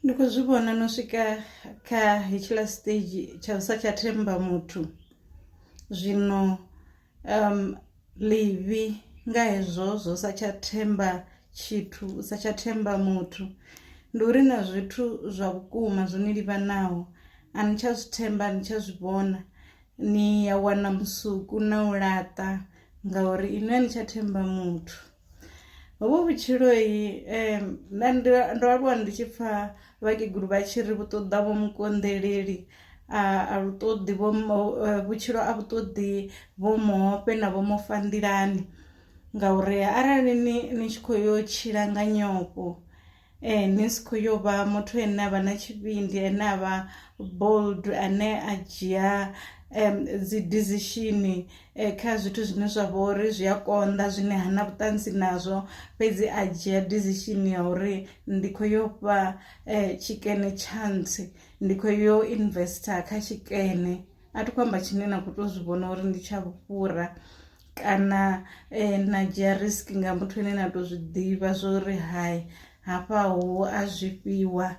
Ndi kho zwi vhona no swika kha hetshiḽa stage tsha u sa tsha themba muthu zwino um ḽivhi nga hezwo zwo sa tsha themba tshithu u sa tsha themba muthu ndi uri na zwithu zwa vhukuma zwo ni livhanaho a ni tsha zwi themba a ni tsha zwi vhona ni ya wana musuku na u laṱa ngauri inwi a ni tsha themba muthu. Hovhu vhutshiloi um nṋe ndi ndo aluwa ndi tshi pfha vhakegulu vha tshi ri vhu ṱoḓa vho mukonḓeleli a lu ṱoḓi vho vhutshilo a vhu ṱoḓi vho muofhe na vho mufa nḓilani ngauri arali ni ni tshi kho yo tshila nga nyofho. Ee, ni si khou yo vha muthu ane a vha na tshivhindi, ane a vha bold, ane a dzhia dzi decision kha zwithu zwine zwa vha uri zwi a konḓa zwine ha na vhuṱanzi nazwo, fhedzi a dzhia decision ya uri ndi khou yo fha tshikene chance, ndi khou yo investor kha tshikene. A thi khou amba tshine na khou tou zwi vhona uri ndi tsha vhufhura. kana eh, na dzhia risk nga muthu ane na to zwi ḓivha zwo ri hai hafha ho a zwifhiwa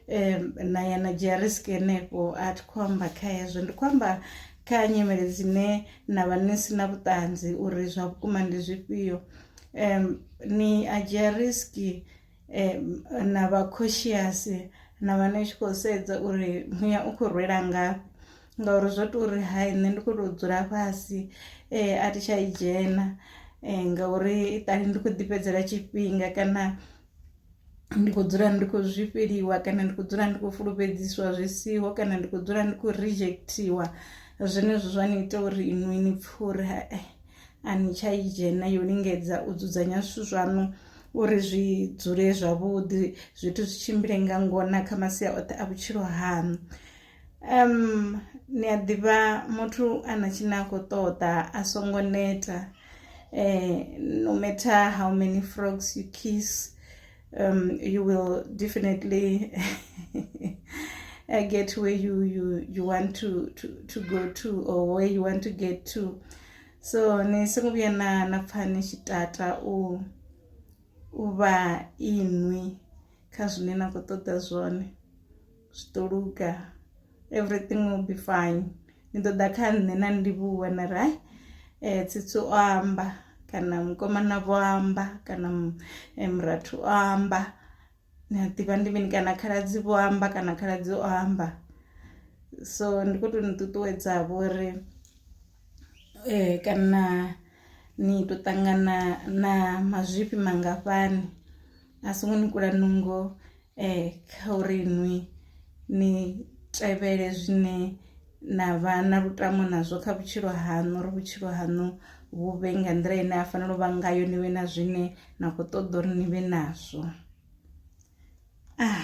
um na ya na dzhia risk henefho a thi khou amba kha hezwo ndi khou amba kha nyimele dzine na vha ni si na vhuṱanzi uri zwa vhukuma ndi zwifhio um ni a dzhia risk um na vha cautious na vha ni tshi khou sedza uri muya u khou rwela ngafhi ngauri zwo to uri hai nṋe ndi kho to dzula fhasi um a thi tsha i dzhena um ngauri iṱali ndi kho ḓi fhedzela tshifhinga kana ndi khou dzula ndi khou zwifheliwa kana ndi khou dzula ndi khou fulufhedziswa zwi siho kana ndi khou dzula ndi khou rejectiwa zwenezwo zwa ni ita uri inwi ni pfhe uri hae a ni tsha i dzhena yo lingedza u dzudzanya zwithu zwaṋu uri zwi dzule zwavhuḓi zwithu zwi tshimbile nga ngona kha masia oṱhe a vhutshilo haṋu um ni a ḓivha muthu a na tshine a khou ṱoḓa a songo neta um no matter how many frogs you kiss um you will definitely uh, get where you you you want to to to go to or where you want to get to so ni songo vhuya na na pfha ni tshi tata u u vha inwi kha zwine na khou ṱoḓa zwone zwi ḓo luga everything will be fine ni ḓo ḓa kha nṋe na ndivhuwa na ri hai eh, tsitsi o amba kana mukomana vho amba kana eh, murathu o amba ni a ḓivha ndi mini kana khaladzi vho amba kana khaladzi o amba so ndi khou tou ni ṱuṱuwedzavho uri eh, kana ni tou ṱangana na mazwifhi mangafhani a songo ni kula nungo eh kha uri nwi ni tevhele zwine na vha na lutamo nazwo kha vhutshilo haṋu uri vhutshilo haṋu vhu vhe nga nḓila ine ha fanela u vha ngayo ni vhe na zwine na kho ṱoḓa uri ni vhe nazwo ah.